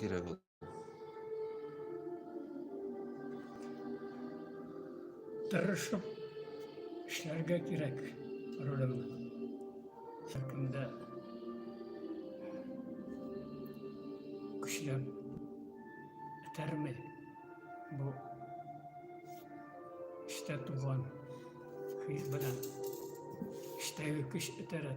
кирәк ул. Тырышып эшләргә кирәк ролем. Шәкендә көчләп этәрмәй бу эштә туган хис белән эштәге көч этәрә.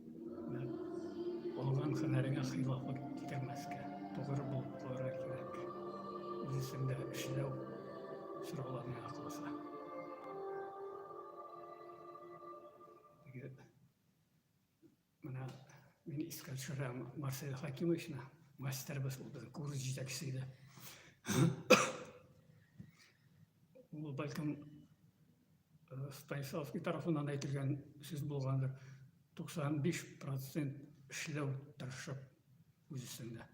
Алган хәнәреңә хилафы китермәскә, тугры булып кылырга кирәк. Үз эшендә эшләү сорала миңа калса. Менә мин искә төшерәм Марсель Хакимовичны, мастербыз булды, курс җитәкчесе иде. Ул бәлкем Станиславский тарафыннан әйтелгән сүз булгандыр. 95% эшләү тырышып үз өстендә.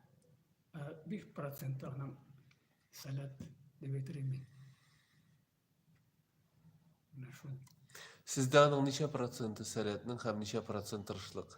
5% аның сәләт дип әйтелгән мин. Менә шул. Сездә аның ничә проценты сәләтнең һәм ничә процент тырышлык?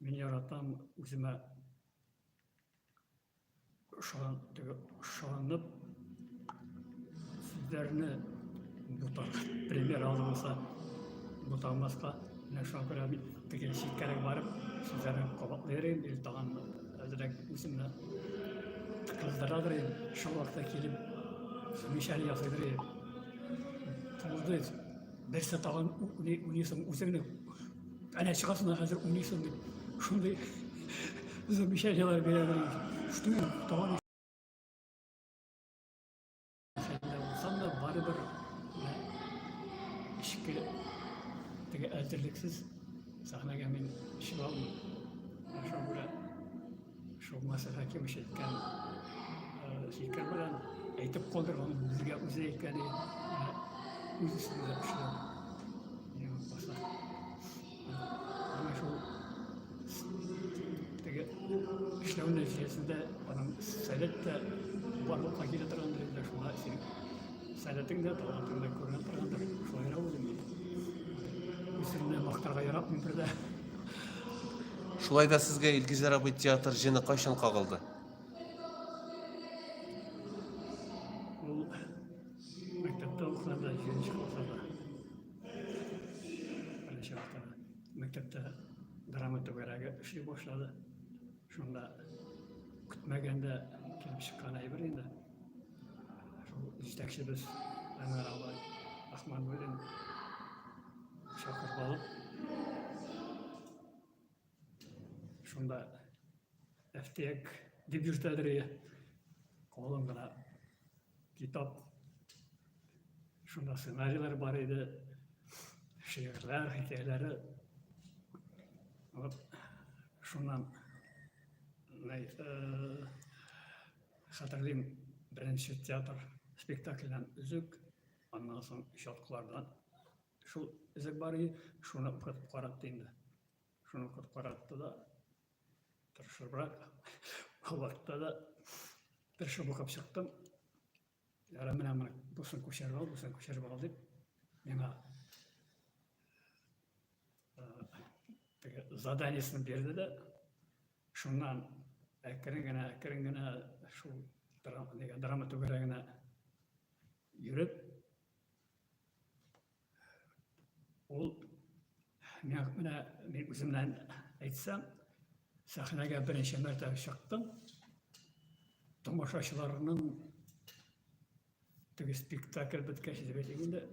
Мин яратам үземә ышанып сүзләрне бутар пример алынса буталмаска менә шуңа күрә мин теге читкәрәк барып сүзләрне кабатлый йөрим или тагын әзрәк үземне кыздырадыр инде шул вакытта килеп замечание ясыйдыр инде Берсе тагын уйный, уйныйсың, үзеңне әнә чыгасың да хәзер уйныйсың дип, шундый замечаниелар бирәләр. Штуен тагын әзерлексез сәхнәгә мин чыга алмыйм. Шуңа күрә Шулмаса хәким ишеткән фикер белән әйтеп калдырган безгә үзе әйткән үз өстендә эшләү. Юкмаса. Менә шул теге эшләү нәтиҗәсендә аның сәләт тә барлыкка килә торган дөресдә шуңа син Сәләтең дә, талантың да күренеп торгандыр. Шулай да үзем мин. Үземне мактарга яратмыйм бер дә. Шулай да сезгә Илгизәр абый театр җене кайчан кагылды? Ул мәктәптә укыганда, җиденче классларда. Беренче вакытта мәктәптә драма түгәрәге эшли башлады. Шунда көтмәгәндә килеп чыккан әйбер инде. Шул җитәкчебез Әнвәр абай Ахмануллин чакырып алып, шунда әфтек дип йөртәдер ие. Колын гына Китап. Шунда сценарийлар бар иде, шигырьләр, хикәяләре. Вот шуннан э, хәтерлим беренче театр спектакльдән үзек, аннан соң чаткылардан шул үзек бар иде, шуны укытып каратты инде. Шуны укытып каратты да, Тырышыбрак. Ул вакытта да тырышып укып чыктым. Ярым менә моны бусын күчереп ал, бусын күчереп ал дип, миңа заданиесен бирде дә, шуннан әкрен генә, әкрен генә шул драма түгәрәгенә йөреп, Ул миңа менә мин үземнән әйтсәм, сәхнәгә беренче мәртәбә чыктым. Тамашачыларның теге спектакль беткәч дип әйтик инде,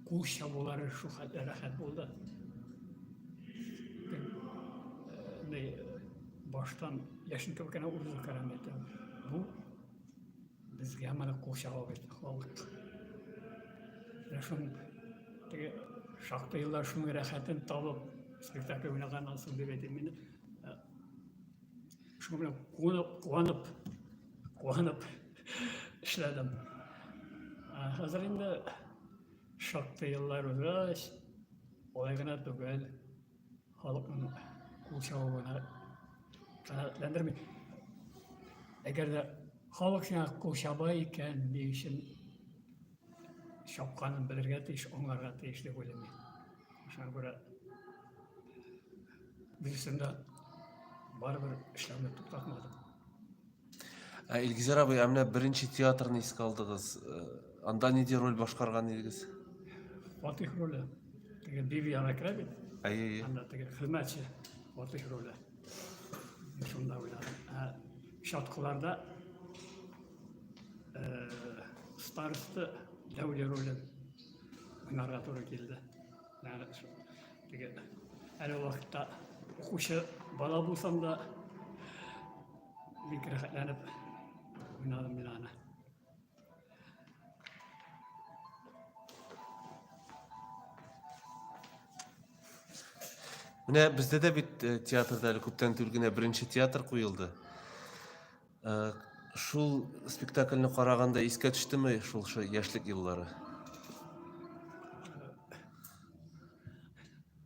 кул чабулары шул хәтле рәхәт булды. Э, баштан яшенкә кенә узып керәм әйтәм. Бу Безгә моны кул чаба бит халык. Менә шуның теге шактый еллар шуның рәхәтен табып, спектакль уйнаганнан соң дип әйтим мин. Э, шуның белән куанып, куанып, куанып эшләдем. Ә хәзер инде шактый еллар узгач, олай гына түгел. халыкның кул чабуына канәгатьләндерми. Әгәр дә халык сиңа кул чаба икән, ни өчен чапканын белергә тиеш, аңларга тиеш дип уйлыйм мин. Шуңа күрә дөресендә барыбер эшләүне туктатмадым. Ә Илгизәр абый, ә менә беренче театрны искә алдыгыз. Э, анда нинди роль башкарган идегез? Фатих роле. Теге Биби ана керә бит. Әйе, әйе. Анда теге хезмәтче Фатих роле. Шунда уйнадым. Ә Шаткыларда э, старосты Дәүле роле уйнарга туры килде. Ягъни теге әле вакытта укучы бала булсам да Бик рәхәтләнеп уйнадым мин аны. Менә бездә дә бит э, театрда әле күптән түгел генә беренче театр куелды. Э, шул спектакльне караганда искә төштеме шул шо яшьлек еллары?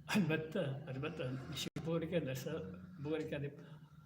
Әлбәттә, әлбәттә, ничек булыр икән, нәрсә булыр икән дип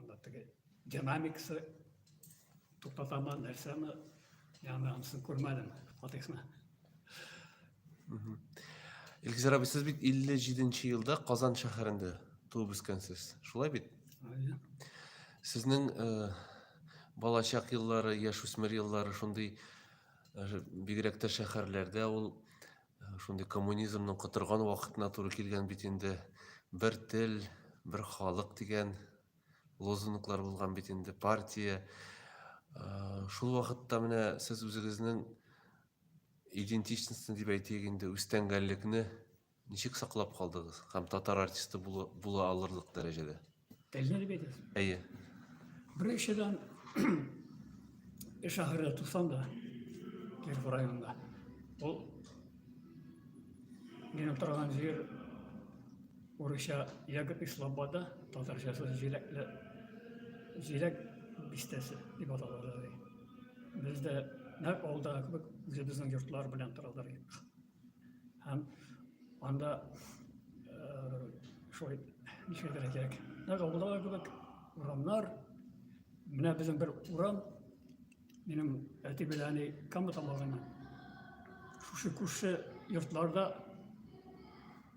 анда теге динамикасы туктатамы нәрсәме яны анысын күрмәдем фотосына Илгизар абый, сез бит 57 елда Казан шәһәрендә туып үскәнсез. Шулай бит? Сезнең э, балачак еллары, яшүсмер еллары шундый э, бигрәк тә шәһәрләрдә ул Шундый коммунизмның котырган вакытына туры килгән бит инде. Бер тел, бер халык дигән лозунглар булган бит инде партия. Шул вакытта менә сез үзегезнең идентичностьны дип әйтик инде үстәнгәнлекне ничек саклап калдыгыз һәм татар артисты була алырлык дәрәҗәдә? Телне дип әйтәсең. Әйе. Беренчедән эш ахыры тусам да Киров районында. Ул минем торган җир урысча ягод и слобода, татарчасы җиләкле җиләк бистәсе дип аталалар. Бездә нәкъ алда кебек үзебезнең йортлар белән торалар. Һәм анда шулай нишәдер кирәк. Нәкъ авылдагы кебек урамнар. Менә безнең бер урам минем әти белән әни Кама тамагына. Шушы күрше йортларда,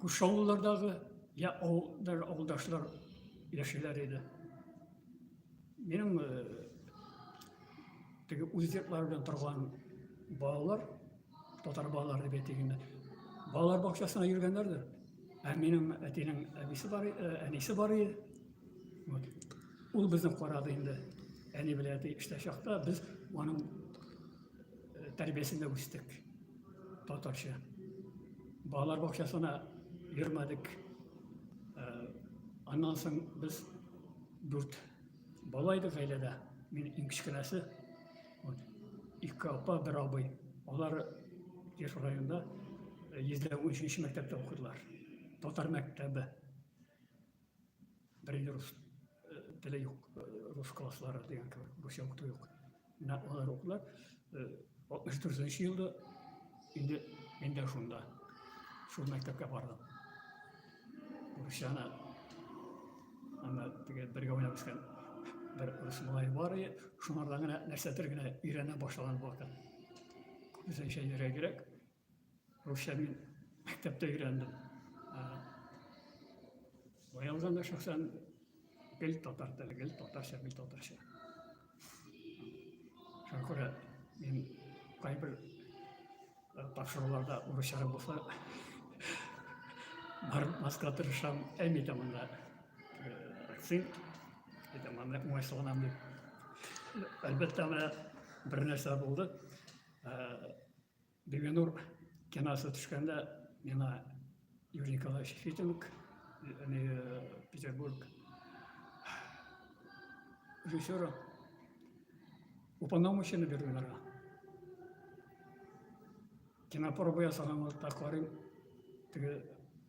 күрше авыллардагы я авылдар, авылдашлар яшиләр иде. Минем теге үз йортлары белән торган балалар Татар балалар дип әйтегендә. Балалар бакчасына йөргәннәрдер. Ә минем әтинең әбисе бар, э, әнисе бар иде. Вот. Ул безне карады инде. Әни белән әти эштә чакта без аның э, тәрбиясендә үстек. Татарча. Балалар бакчасына йөрмәдек. Э, аннан соң без дүрт бала идек гаиләдә. Мин иң кечкенәсе. Ике апа, бер абый. Алар Кеш районында 113 мәктәптә укыдылар. Татар мәктәбе. Бер рус теле юк, рус класслары дигән кебек, русча укыту юк. Менә алар укыдылар. 64 елда инде инде шунда. Шул мәктәпкә бардым. Русияне аны теге бергә уйнап үскән бер рус малай бар иде. Шуңардан гына нәрсәдер генә өйрәнә башлаган вакыт. Күбесенчә йөрәгрәк. Русча мин мәктәптә өйрәндем. Быелдан да шәхсән гел татар теле, гел татарча, гел татарча. Шуңа күрә мин кайбер тапшыруларда урысчара булса бармаска тырышам, әйми дә монда акцент, әйтәм, аны уңайсызланам дип. Әлбәттә, менә бер нәрсә булды. Бибинур киносы төшкәндә миңа Юрий Николаевич Фитинг, э, Петербург режиссера, уполномоченный бирделәр. Кинопроба ясаган вакытта карыйм, теге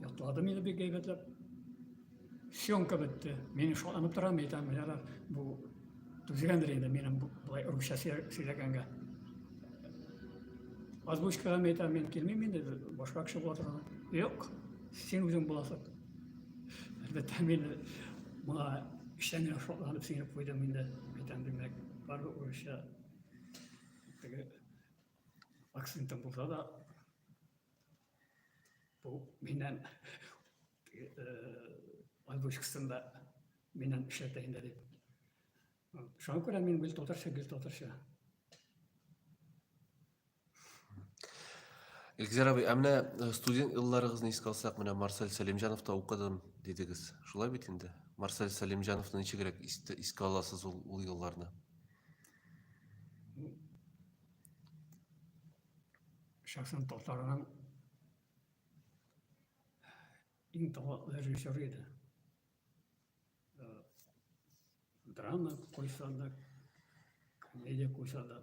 Ятлады мине бик әйбәтләп. Съемка бетте. Мин шатланып торам, әйтәм, менә бу түзгәндер инде минем болай русча сөйләгәнгә. Озвучкага мен әйтәм, мин килмим инде, башка кеше була торган. Юк, син үзең буласың. Әлбәттә, мин моңа эчтән генә шатланып сеңеп куйдым инде. Әйтәм, димәк, бары урысча акцентым булса да бу миннән озвучкасын да миннән эшләтә инде дип шуңа күрә мин гел татарча гел татарча Илгизәр абый, ә менә э, студент елларыгызны искә алсак, менә Марсель Сәлимҗановта укыдым дидегез. Шулай бит инде? Марсель Сәлимҗановны ничегрәк искә аласыз ул, ул елларны? Шәхсән татарның иң талантлы режиссер иде. Э, драма куйса да, комедия куйса да,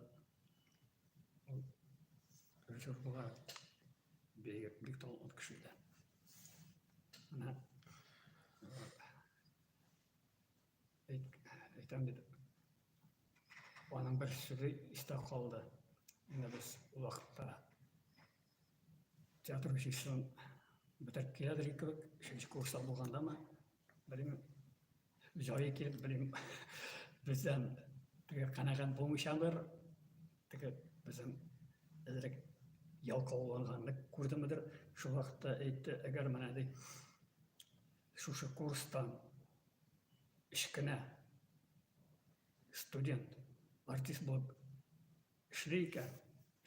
режиссер була бик, бик талантлы кеше иде. Менә э, әйтәм бит аның бер сүзе истә калды менә без ул вакытта театр училищесын бетереп киләдер кебек өченче курста булгандамы белмим җае килеп белмим бездән теге канәгать булмыйчадыр теге безнең әзерәк ялкауланганны күрдемедер шул вакытта әйтте әгәр менә ди Шушы курстан өч кенә студент артист булып эшли икән,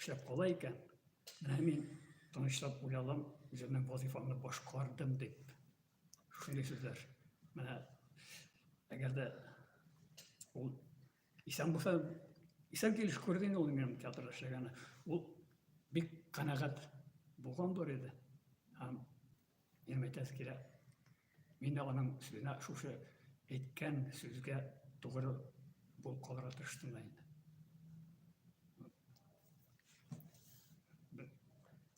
эшләп кала икән, менә мин тынычлап уялам, үземнең вазифамны башкардым дип. Шундый сүзләр. Менә әгәр дә ул Исән булса, исән килеш күрде инде ул минем театрда эшләгәне. Ул бик канәгать булган бар иде. Һәм нәм әйтәсе килә. Мин дә аның сүзенә шушы әйткән сүзгә тугры булып калырга тырыштым да инде.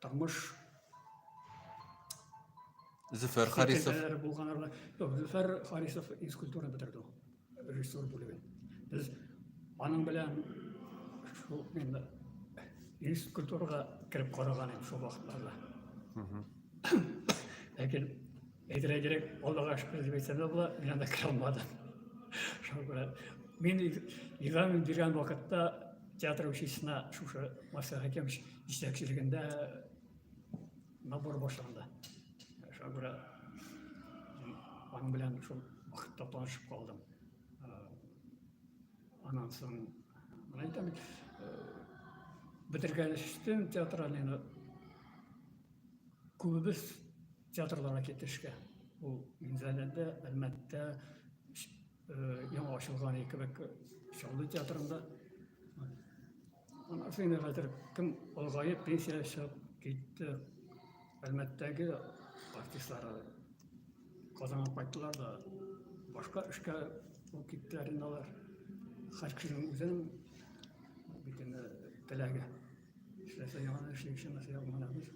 Тормыш Зөфәр Харисов. Зөфәр Харисов физкультура бетерде ул. Режиссер бүлеген. Без аның белән шул инде физкультурага кереп караган идек шул вакытларда. Ләкин Әйтерәгерәк, алдыга шөкер дип әйтсәм дә була, мин анда керә алмадым. Шуңа күрә мин игълан биргән вакытта театр училищесына шушы Марсель Хәкимович җитәкчелегендә набор башланды. Шуңа күрә аның белән шул вакытта танышып калдым. Аннан соң, мына әйтәм, бетергәнчтен театральныйны күбебез Театрларга китешкә. Ул Минзәләдә, Әлмәттә, яңа ачылган кебек Чаллы театрында. Аннан соң хәзер кем олыгаеп пенсия чыгып китте. Әлмәттәге артистлар Казанга кайттылар да башка эшкә үк киттеләр инде алар. Һәр кешенең үзенең бит инде теләге. Эшләсә яңаны эшли, эшләмәсә яңаны эшләмәс.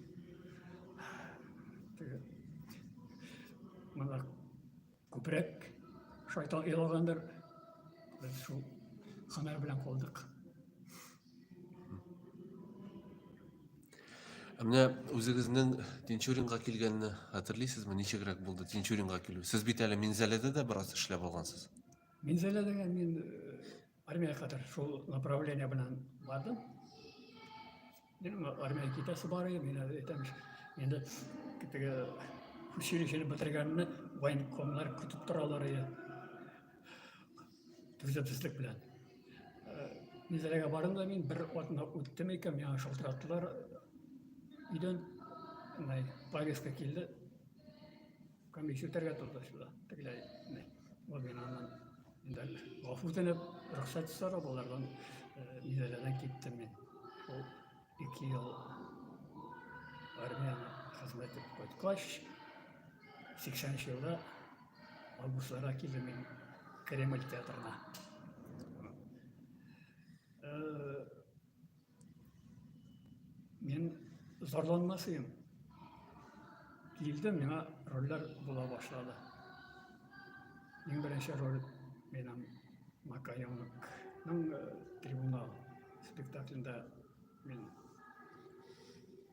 Теге монар күбрәк шайтан илагандыр. Без шул хәмәр белән калдык. Ә менә үзегезнең Тинчуринга килгәнне хәтерлисезме? Ничегрәк булды Тинчуринга килү? Сез бит әле Минзәләдә дә бераз эшләп алгансыз. Минзәләдә мин Армия кадәр шул направление белән бардым. Мин армия китәсе бар иде, мин әйтәм, инде теге училищене бетергәнне военкомнар көтеп торалар иде. Төзәтүслек белән. Низәрәгә бардым да мин бер атна үттем икән, миңа шалтыраттылар. Өйдән повестка килде, Комиссия үтәргә торды шунда. Тегеләй Гомираннан инде гафу үтенеп, рөхсәт сорап алардан Минзәләдән киттем мин. Ул ике ел армияне хезмәт итеп кайткач, 80 елда августларда килдем мин Кремль театрына. Мин зарланмас идем. Килде миңа рольләр була башлады. Иң беренче роль минем Макаенокның э, трибунал спектаклендә мин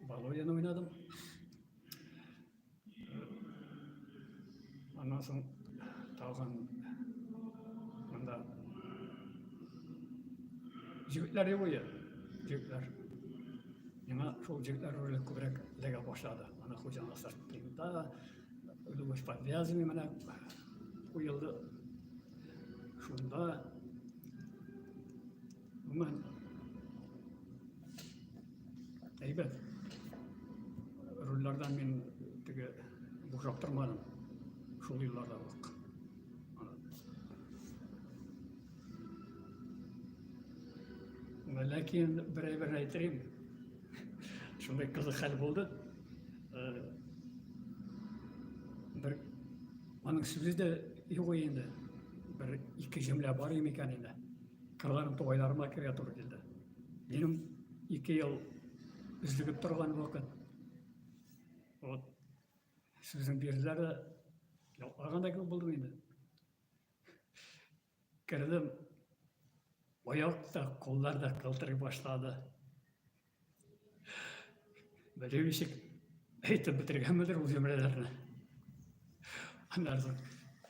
Володяны уйнадым. Аннан соң тагын монда җегетләр юк иде. Җегетләр. Миңа шул җегетләр роле күбрәк эләгә башлады. Ана хуҗаның сыртында Любовь подвязанный менә куелды. Шунда Нормально. Әйбәт. Рульләрдән мин теге бушап тормадым. Шул елларда ук. Ләкин бер әйбер әйтәм. Шундый кызык хәл булды. Бер аның сүзе дә юк инде. Бер ике җөмлә бар икән инде. Кырган тугайларыма керә туры килде. Минем ике ел үзлегеп торган вакыт. Вот сүзен бирделәр дә ялклагандай кебек булдым инде. Кердем. Аяк та, куллар да калтырый башлады. Белем ишек әйтеп бетергәнмедер ул җөмләләрне. Аннан соң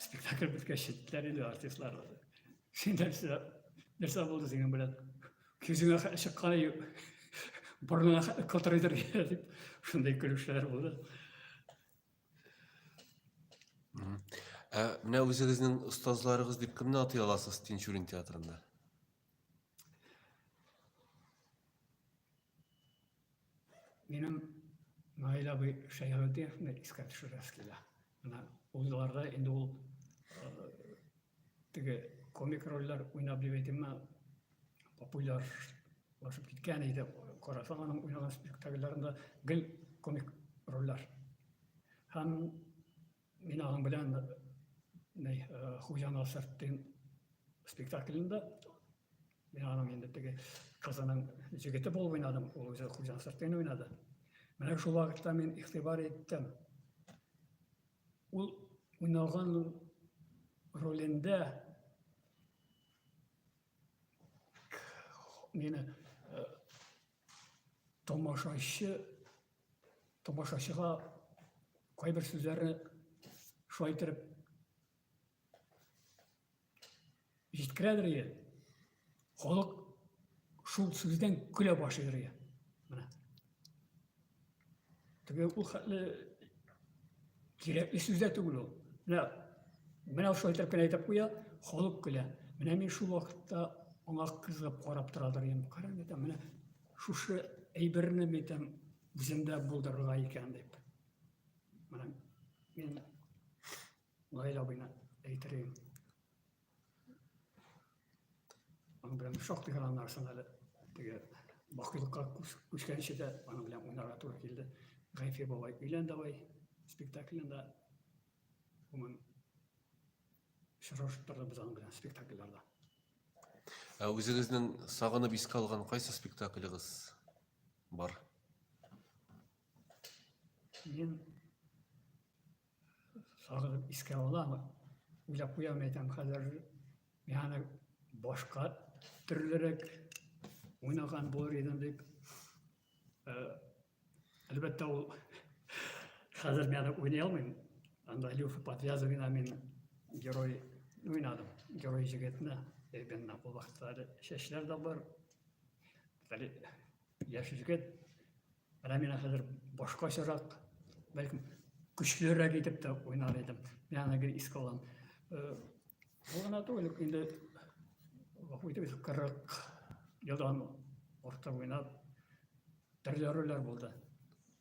спектакль беткәч җиттеләр инде артистлар. Син нәрсә нәрсә булды синең белән? Күзеңә чыкканы юк. Борыныңа котыр идер дип шундый көлүчеләр булды. Ә менә үзегезнең остазларыгыз дип кемне атый аласыз Тинчурин театрында? Минем Наил абый Шәйхетдиновны искә төшерәс килә. Менә узларда инде ул теге комик рольләр уйнап дип әйтимме, популярлашып киткән иде. Карасаң аның уйнаган спектакльләрендә гел комик рольләр. Һәм Мин аның белән ней Хуҗаны сырттым спектаклендә. Мин аның инде теге кызының җегете булып уйнадым, ул үзе Хуҗаны сырттым уйнады. Менә шул вакытта мин игътибар иттем. Ул уйнаган ролендә мені тамашачы тамашачыга кайбер сүзләрне шулай иттереп җиткерәдер иә халык шул сүздән көлә башлыйдыр иә менә Теге ул хәтле кирәкле сүз дә түгел ул. Менә менә шулай итеп кенә әйтеп куя, халык көлә. Менә мин шул вакытта аңа кызыгып карап торадыр идем. Карам әйтәм, менә шушы әйберне әйтәм, үземдә булдырырга икән дип. Менә мин Наил абыйны әйтер идем. Аның белән шактый гына нарсын әле теге бакыйлыкка күчкәнче дә аның белән уйнарга туры килде. Гайфи бабай өйлән давай спектаклендә гомум очрашып торды без аның белән спектакльләрдә. Ә үзегезнең сагынып искә алган кайсы спектаклегыз бар? Мин сагынып искә алам, уйлап куям, әйтәм, хәзер миһаны башка төрлерәк уйнаган булыр идем дип. Э, әлбәттә, ул хәзер мин аны уйный алмыйм. Анда Илюха Подвязовина мин герой уйнадым, герой җегетне. Әйбенна, ул вакытта әле чәчләр дә бар. Яшь егет, менә мин хәзер башкачарак, бәлкем көчлерәк итеп тә уйнар идем. Мин аны гел искә алам. Э, бу гына түгел, инде гафу итегез, 40 елдан артык уйнап, төрле рольләр булды.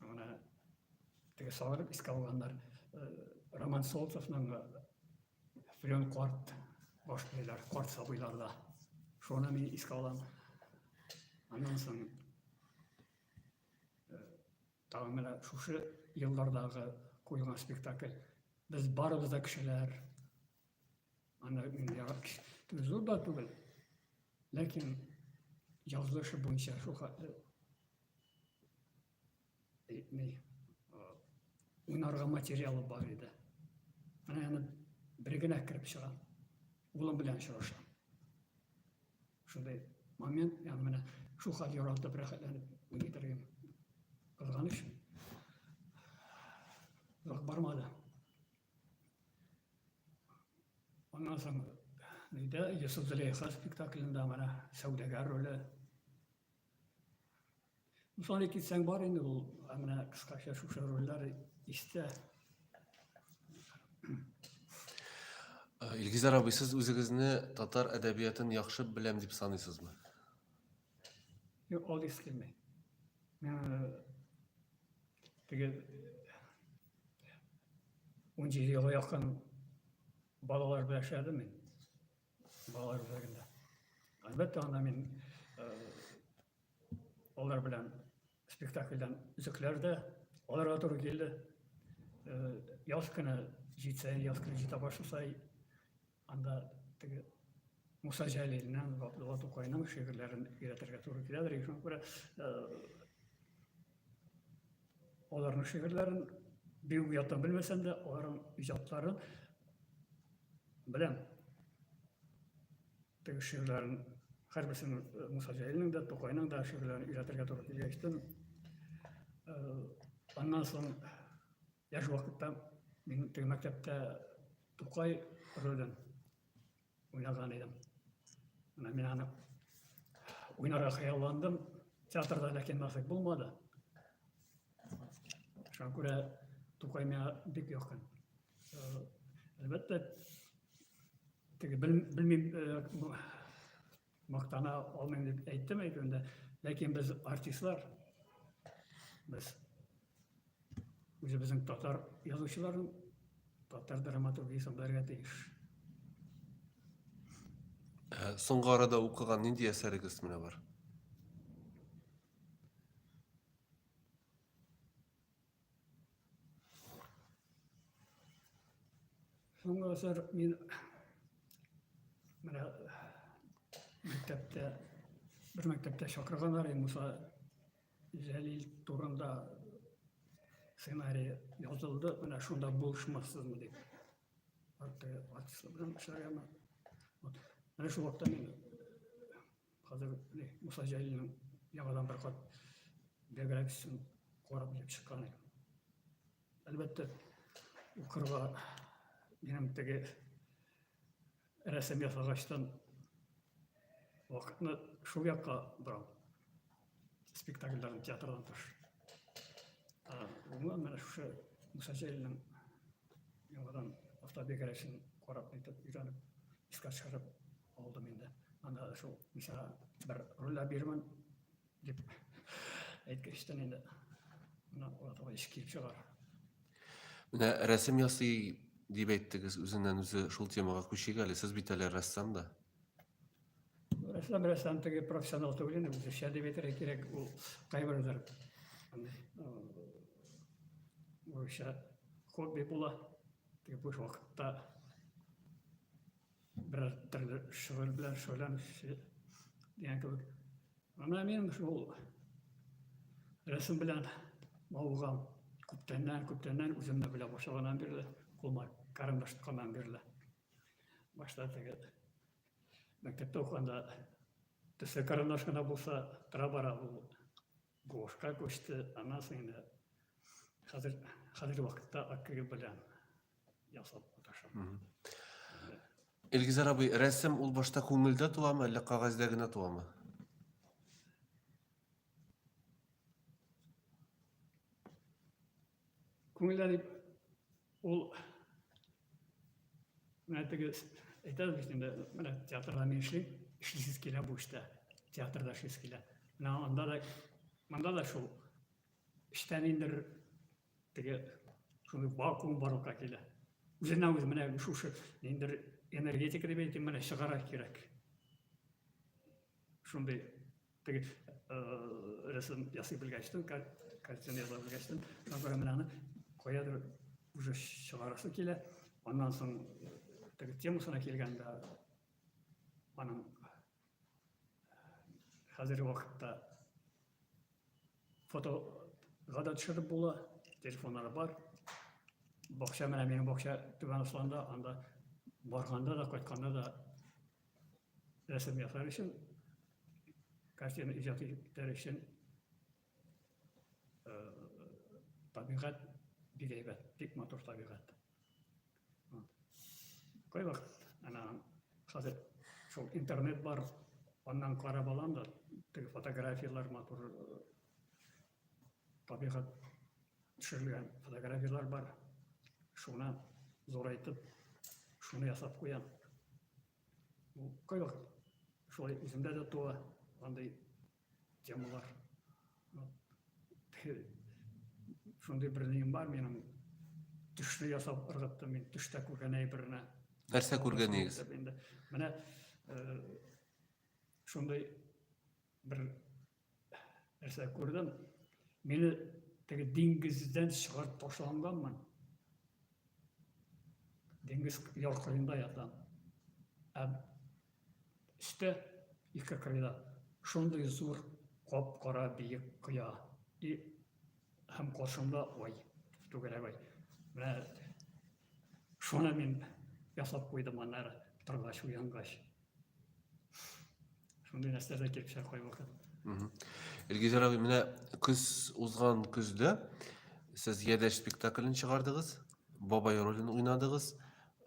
Менә теге салып искә алганнар. Э, Роман Солнцевның Флен карт башлыйлар, карт сабыйларда. Шуны мин искә алам. Аннан соң э, тагы менә шушы еллардагы куелган спектакль. Без барыбыз да кешеләр. Аны мин ярап зур да түгел. Ләкин язылышы буенча шул э, не уйнарга материалы бар иде. Менә аны бер генә кереп чыгам. Улым белән очрашам. Шундый момент, я менә шул хәл яралтып рәхәтләнеп уйный торган. Кызганыч. Зак бармады. Аннан соң Нидә Йосыф Зөләйха спектаклендә менә сәүдәгәр роле Мысале китсәң бар инде ул, менә кыскача шушы рольләр истә. Э, Илгизар абый, сез үзегезне татар әдәбиятын яхшы беләм дип саныйсызмы? Юк, ул дис килми. Теге 17 елга якын балалар белән эшләдем мин. Балалар үзәгендә. Әлбәттә, анда мин алар белән спектакльдән өзекләр дә аларга туры килде. Яз көне җитсә, яз көне җитә башласа, анда теге Муса Җәлилнең, Габдулла Тукайның шигырьләрен өйрәтергә туры киләдер. Шуңа күрә Аларның шигырьләрен бик уята белмәсәм дә, аларның иҗатларын беләм. Теге шигырьләрен һәрберсен э, Муса Җәлилнең дә, Тукайның да шигырьләрен өйрәтергә туры килгән иштем. Э, аннан соң яшь вакытта мин теге мәктәптә Тукай ролен уйнаган идем. Менә мин аны уйнарга хыялландым. Театрда ләкин насыйп булмады. Шуңа күрә Тукай миңа бик якын. Э, әлбәттә, теге белмим, э, Мактана алмыйм дип әйттем әйтемдә, ләкин без артистлар, без үзебезнең татар язучыларын, татар драматургиясен белергә тиеш. Ә, соңгы арада укыган нинди әсәрегез менә бар? Соңгы асар мин менә мәктәптә бер мәктәптә чакырганнар иде Муса Җәлил турында сценарий язылды, менә шунда булышмассызмы дип. Арты артистлар белән эшләргәме. Вот. Менә шул вакытта мин Хәзер Муса Җәлилнең яңадан бер кат биографиясен карап килеп чыккан идем. Әлбәттә, укырга минем теге рәсем ясагачтан вакытны шул якка борам. спектакльдагы театрдан тыш гомумән менә шушы муса җәлилнең яңадан автобиографиясен карап әйтеп өйрәнеп искә төшереп алдым инде анда шул муса бер рольдә бирмен дип әйткәчтән инде менә аларга еш килеп чыга менә рәсем ясый дип әйттегез үзеннән үзе шул темага күчик әле сез бит әле рәссам да Рәсәм рәсәм теге профессионал түгел инде без шәдеп әйтергә кирәк ул кайбердер урысча хобби була теге буш вакытта берәр төрле шөгыль белән шөгыльләнүче дигән кебек ана мин шул рәсем белән мавыгам күптәннән күптәннән үземне белә башлаганнан бирле кулыма карандаш тотканнан бирле башта теге Мәктәптә укыганда төсле карандаш кына булса тора-бара ул гуашка күчте, аннан соң инде хәзер хәзерге вакытта акрил белән ясап маташам. Илгизәр абый, рәсем ул башта күңелдә туамы, әллә кагазьдә генә туамы? Күңелләре ул менә теге әйтәбез бит инде, менә театрда мин эшлим, эшлисез килә бу эштә, театрда эшлисез килә. Менә анда да, монда да шул эштә ниндер теге шундый вакуум барлыкка килә. Үзенә үзе менә шушы ниндер энергетика дип әйтим, менә чыгарак кирәк. Шундый теге рәсем ясый белгәчтен, картина ясый белгәчтен, Назар менә аны каядыр уже чыгарасы килә. Аннан соң теге темасына килгәндә аның хәзерге вакытта фотога да төшереп була, телефоннары бар. Бакча менә минем бакча Түбән Асланда, анда барганда да, кайтканда да рәсем ясар өчен, картина иҗат итәр өчен табигать бик әйбәт, бик матур табигать. Кай вакыт ана хәзер шул интернет бар, аннан карап алам да, теге фотографияләр матур табигать Төшерелгән фотографияләр бар. Шуны зурайтып, шуны ясап куям. Бу кайвак шулай үземдә дә туа андый темалар. Шундый бер ним бар минем. Төшне ясап ыргыттым мин, төштә күргән әйберне. Нәрсә күргәнегез? Менә э, шундый бер нәрсә күрдем мені теге диңгездән чыгарып ташланганмын диңгез яр кырыенда ятам ә өстә ике кырыйда шундый зур кап кара биек кыя и һәм каршымда ай түгәрәк ай менә шуны мин ясап куйдым аннары торгач уянгач Шундый нәрсәләр дә килеп чыга кайвакыт. Илгизәр абый, менә көз узган көздә сез Ядәш спектаклен чыгардыгыз, бабай ролен уйнадыгыз.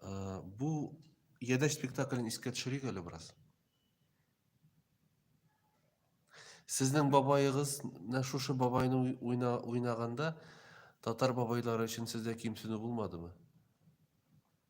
Э, бу Ядәш спектаклен искә төшерик әле бераз. Сезнең бабайыгыз менә шушы бабайны уйна, уйнаганда татар бабайлары өчен сездә кимсенү булмадымы?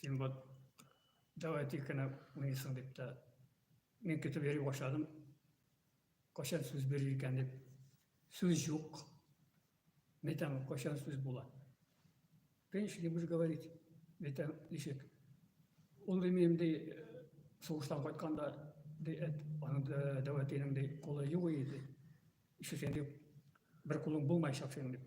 Син вот давай тикенә уйныйсың дип тә мин көтеп йөри башладым. Кайчан сүз бирер икән дип. Сүз юк. Мәйтәм, кайчан сүз була. Конечно, не будешь говорить. Мәйтәм, ничек? Ул ди минем ди сугыштан кайтканда ди әт, аның дәвәтинең ди колы юк иде. Ишетсәң ди бер кулың булмаячак синең дип.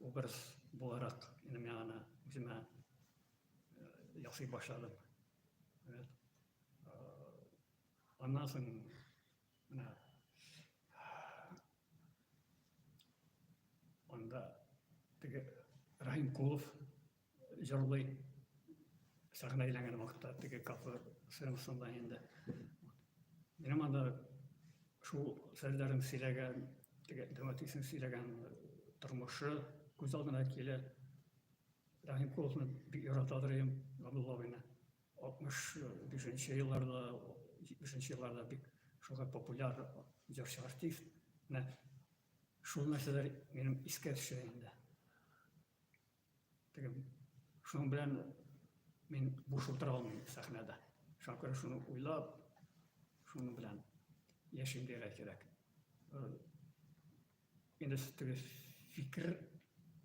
Образ буларак инде мин аны үземә ясый башладым. Рәт. Аннан соң менә анда теге Рахим Кулов җырлый сәхнә әйләнгән вакытта теге кафе сценасында инде минем анда шул серләрен сөйләгән теге драматизм сөйләгән тормышы күз алдына килә рәхим куловны бик яратадыр идем габдулла абыйны алтмыш бишенче елларда җитмешенче елларда бик шуңа популяр җырчы артист менә шул нәрсәләр минем искә төшә инде Теге шуның белән мин буш утыра алмыйм сәхнәдә. Шуңа күрә шуны уйлап, шуның белән яшим дигә кирәк. Инде теге фикер,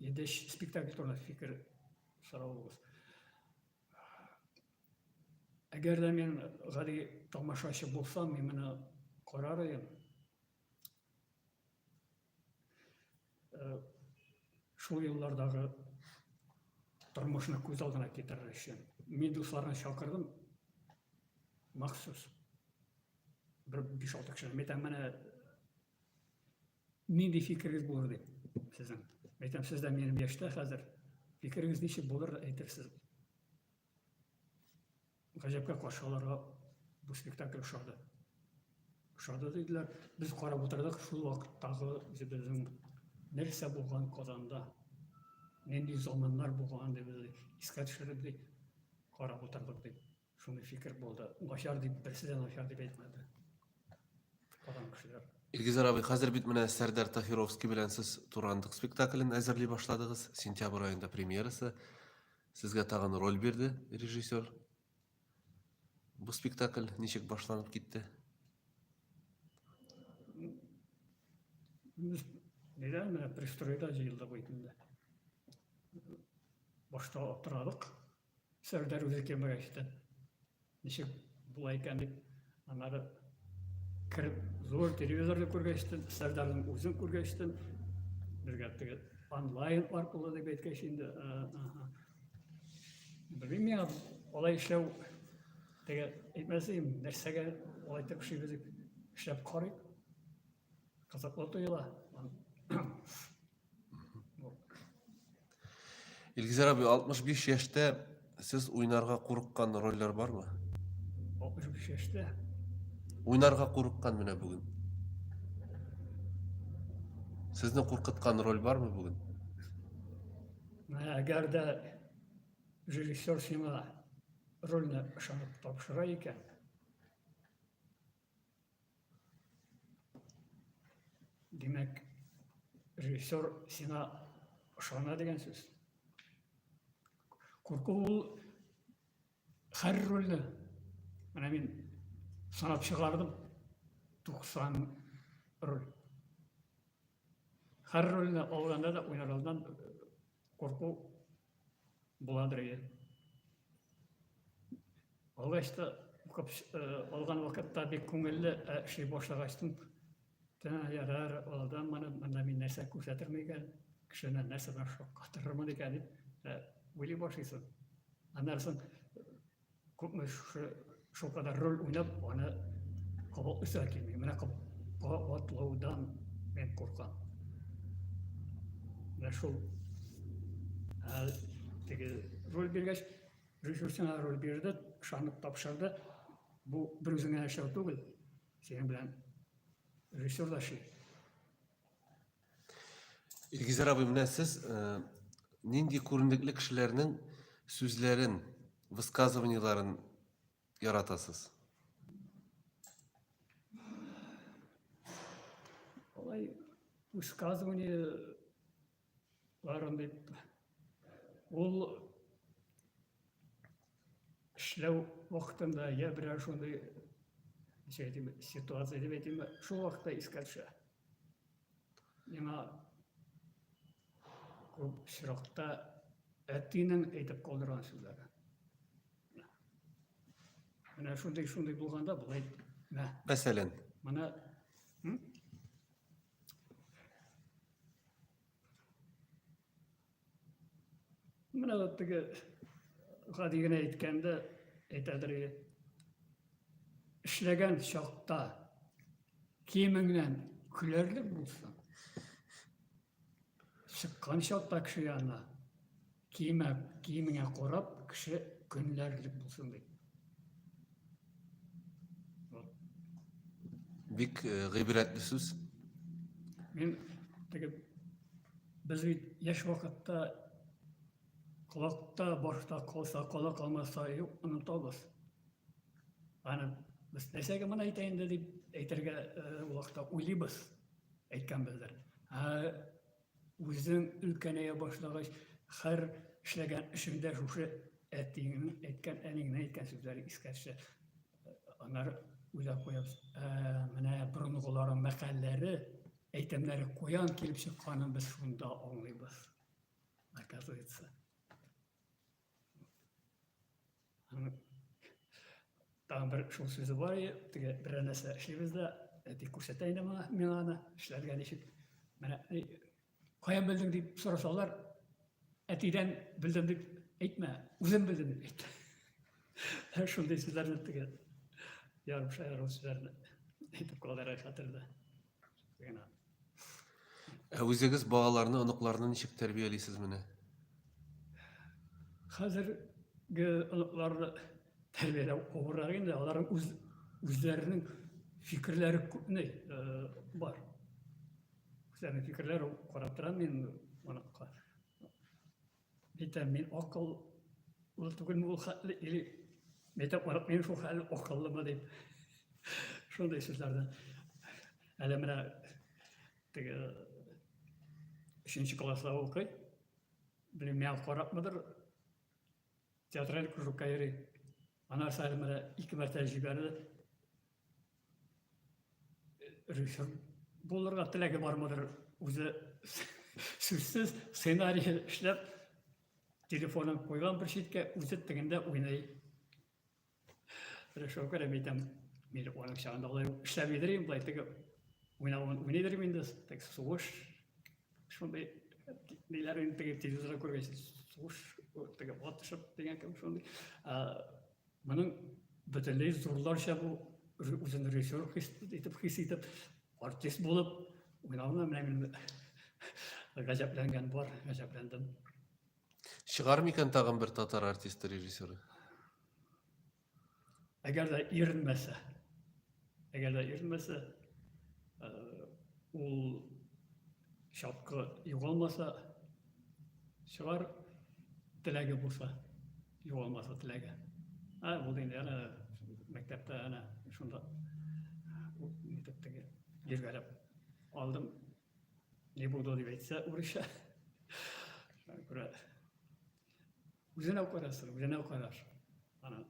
инде спектакль турында фикер сорауыгыз. Әгәр дә мин гади тамашачы булсам, мин моны карар идем. Шул еллардагы тормышны күз алдына китерер өчен мин дусларны чакырдым махсус. Бер 5-6 кеше. Мен әйтәм, менә нинди фикерегез булыр дип сезнең. Мен әйтәм, сез дә минем яшьтә хәзер. Фикерегез ничек булыр әйтерсез. Гаҗәпкә каршы аларга бу спектакль ошады. Ошады диделәр. Без карап утырдык шул вакыттагы үзебезнең нәрсә булган Казанда. Нинди заманнар булган дип искә төшереп дип карап утырдык дип. Шундый фикер булды. Начар дип берсе дә начар дип әйтмәде. Казан кешеләр. Илгизар абый, хәзер бит менә Сәрдәр Таһировский белән сез Турандык спектаклен әзерли башладыгыз. Сентябрь аенда премьерасы. Сезгә тагын роль бирде режиссер. Бу спектакль ничек башланып китте? Нидән менә пристройда җыелдык бит инде. Башта аптырадык. Сәрдәр үзе кемгә ишетә. Ничек була икән дип, аннары кереп, зур телевизорны күргәчтен, Сәрдарның үзен күргәчтен, безгә теге онлайн аркылы дип әйткәч инде, белмим миңа алай эшләү теге әйтмәс идем, нәрсәгә алай итеп эшлибез дип эшләп карыйк. Кызыклы тоела. Илгизәр абый, 65 яшьтә сез уйнарга курыккан рольләр бармы? 65 яшьтә. Уйнарга курыккан менә бүген. Сезне куркыткан роль бармы бүген? Әгәр дә режиссер сиңа рольне ышанып тапшыра икән, Димәк, режиссер сиңа ышана дигән сүз. Курку ул һәр рольне. Менә мин санап чыгардым 90 роль. Һәр рольне алганда да уйнардан курку Буладыр иде. Алгач та укып алган вакытта бик күңелле эшли башлагачтын тәнә ярар, алдан мана монда мин нәрсә күрсәтермен икән, кешене нәрсә белән шаккатырырмын икән дип уйлый башлыйсың. Аннан соң Күпме шушы шул кадәр роль уйнап, аны кабат үсә килми. Менә кабатлаудан мен куркам. Менә шул ә, теге роль биргәч, режиссерына роль бирде, ышанып тапшырды. Бу бер үзеңә яшәү түгел, синең белән режиссер да ши. Илгизәр абый, менә сез э, нинди күренекле кешеләрнең сүзләрен, высказываниеләрен яратасыз? Алай высказываниеләрен дип ул эшләү вакытында я берәр шундый ничек әйтим ситуация дип әйтимме шул вакытта искә төшә миңа күп очракта әтинең әйтеп калдырган сүзләре менә шундый шундый булганда болай мә мәсәлән менә Менә вот теге гади генә әйткәндә әйтәдер иде. Эшләгән чакта киемеңнән көләрлек булсын. Чыккан чакта кеше янына киемә, киемеңә карап кеше көнләрлек булсын ди. Бик э, гыйбрәтле сүз. Мин теге без бит яшь вакытта колакта башта калса, кола калмаса юк, онытабыз. Аны без нәрсәгә моны әйтә инде дип әйтергә э, вакытта уйлыйбыз әйткән бездер. Ә Үзең өлкәнәя башлагач, хәр эшләгән эшеңдә шушы әтиеңнең әйткән, әниеңнең әйткән сүзләре искә төшә. Аннары уйлап куябыз, ә, менә борынгыларның мәкальләре, әйтемнәре куян килеп чыкканын без шунда аңлыйбыз. Оказывается. Тагын бер шул сүзе бар иде, теге берәр нәрсә эшлибез дә, әти күрсәтә инде миңа, миңа аны эшләргә ничек. Менә каян белдең дип сорасалар, әтидән белдем дип әйтмә, үзем белдем дип әйт. Шундый сүзләрне теге ярым шаяру сүзләрне әйтеп калдыра хәтердә. Ә үзегез балаларны, оныкларны ничек тәрбиялисез менә? Хәзерге оныкларны тәрбияләү авыррак инде, аларның үз үзләренең фикерләре күпне бар. Үзләренең фикерләре карап торам мин оныкка. Әйтәм, мин акыллы түгелме ул хәтле, или мәктәп карап мин шул хәтле акыллымы дип. Шундый сүзләрдән. Әле менә теге өченче класста укый. Белмим, миңа карапмыдыр. Театраль кружокка йөри. Анасы әле менә ике мәртәбә җибәрде. режиссер булырга теләге бармыдыр үзе сүзсез сценарий эшләп телефонын куйган бер читкә үзе тегендә уйный режиссер кереп әйтәм мин аның чагында алай эшләми дер инде былай теге уйнавын уйный дер инде тек сугыш шундый ниләр инде теге телевизорда күргәч сугыш теге атышып дигән кебек шундый Моның бөтенләй зурларча бу үзен режиссер хис итеп, хис итеп, артист булып уйнавына менә мин гаҗәпләнгән бар, гаҗәпләндем. Чыгар микән тагын бер татар артисты режиссеры? Әгәр дә иренмәсә. Әгәр дә йөрмәсә, ул чапкы югалмаса, чыгар теләге булса, югалмаса теләге. Ә ул инде әнә мәктәптә әнә шунда итеп теге ергәрәп алдым. Не буду дип әйтсә, урысча. Күрә Үзенә карасыр, үзенә караш. Ана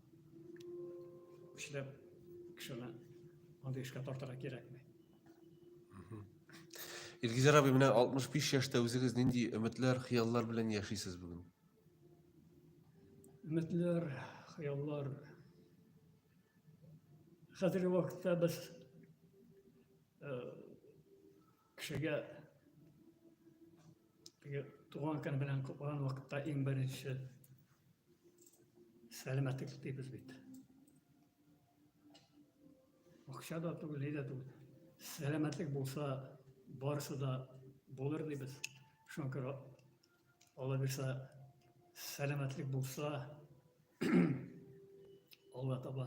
көчләп кешене андый эшкә тартырга кирәкми. Илгизәр абый, менә 65 яшьтә үзегез нинди өметләр, хыяллар белән яшисез бүген? Өметләр, хыяллар. Хәзерге вакытта без Кешегә теге туган көн белән котланган вакытта иң беренче сәламәтлек телибез бит. Акча да түгел, ни дә түгел. Сәламәтлек булса, барысы да булыр дибез. Шуңа күрә Алла бирса, сәламәтлек булса, Алла таба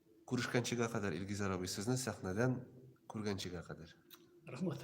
Күрешкәнчегә кадәр Илгизәр абый сезне сәхнәдән күргәнчегә кадәр. Рахмат.